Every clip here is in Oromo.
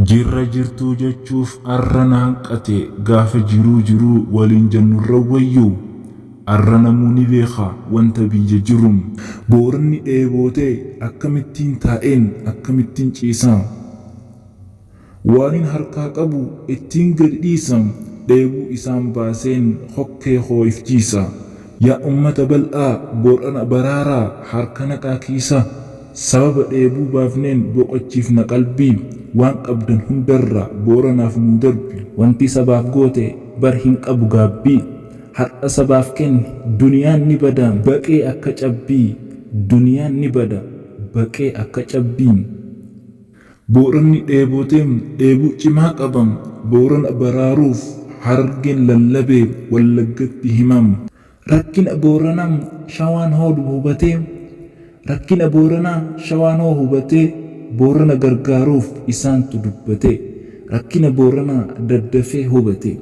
Jirra jirtuu jechuuf arra na hanqate gaafa jiruu jiruu waliin jennurra wayyu arra namuu ni beeka wanta biyya jiru. Booranni dheebote akkamittiin taa'een akkamittiin ciisa? Waanin harkaa qabu ittiin gadi dhiisa dheebuu isaan baaseen kokkee koo if jiisa. Yaa ummata bal'aa Boorana baraaraa harka naqaa kiisa Sababa dheebuu baafneen boqochiifna qalbii Waan qabdan hundarraa Booranaaf nuu darbi. Wanti sabaaf goote bar hin qabu gaabbii Har'a sabaaf kenni duniyaan ni bada baqee akka cabbii Duniyaan ni bada baqee akka cabbii. Booranni dheebote, dheebuu cimaa qaba. Boorana baraaruuf Harargeen lallabe, Wallaggatti hima. Rakkina Boorana, Shawaan hoo hubatee? Rakkina Boorana, Shawaan hoo hubatee? Boorana gargaaruuf isaantu dubbate. Rakkina Boorana daddafee hubate.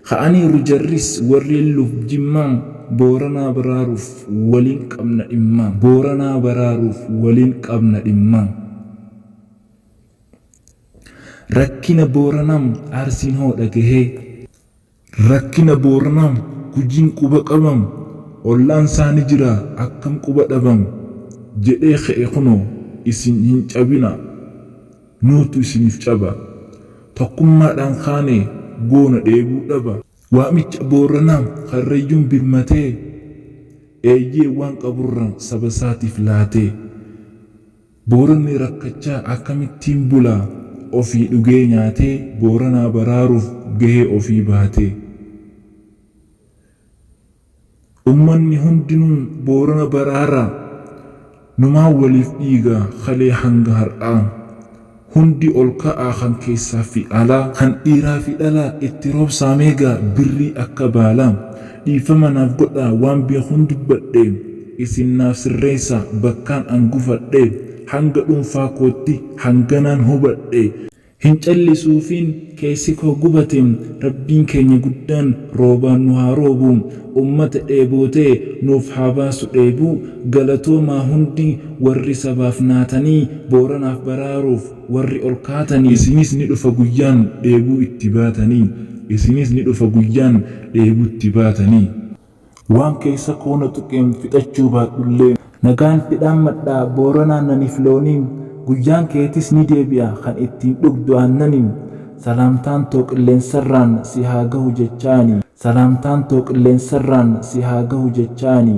Ka'aniiru jarris warreen luf jimmaa Booranaa baraaruuf waliin qabna dhimma Booranaa baraaruuf waliin qabna dhimma Rakkina Booranaa Arsiin hoo dhagahee? Rakkina Booranaa Gujiin quba qaba Ollaan saa ni jira akkam quba dhaba Jedhee ka'e kunoo isin hin cabinaa! Nuutu isiniif caba. Tokkummaadhaan kaane goona dheebuu dhaba. Waamicha Booranaa Karrayyuun birmatee. Eeyyee waan qaburraa sabasaatiif laatee. Booranni rakkachaa akkamittiin bulaa? Ofii dhugee nyaatee Booranaa baraaruuf gahee ofii baatee. Ummanni hundinuu Boorana baraarraa numaa waliif dhiiga kalee hanga har'aa. Hundi ol ka'aa kan keessaa fi alaa. Kan dhiiraa fi dhalaa itti roobsaa meegaa birrii akka baalaa. Dhiifama naaf godhaa waan beekuun dubbadhe isin naaf sirreessaa bakkaan an gufadhe hanga dhuunfaa kootti hanganaan hubadhe. Hin callisuufiin keessi koo gubate rabbiin keenya guddaan roobaan nu haa roobu ummata dheebootee nuuf haa baasu dheebuu galatoomaa hundi warri sabaaf naatanii booranaaf baraaruuf warri ol kaatanii. Isinis ni dhufa guyyaan dheebuu itti baatanii Isinis ni dhufa guyyaan dheebuutti baatanii. Waan keessa koo na tuqeen fixachuu baadhullee. Nagaan si dhaammadha Booran Aannaniif Loonii Guyyaan keetis ni deebi'a kan ittiin dhugdu aannani Salaamtaan too qilleensarraan si haa gahu jechaa ani Salaamtaan too qilleensarraan si haa gahu jechaa ani.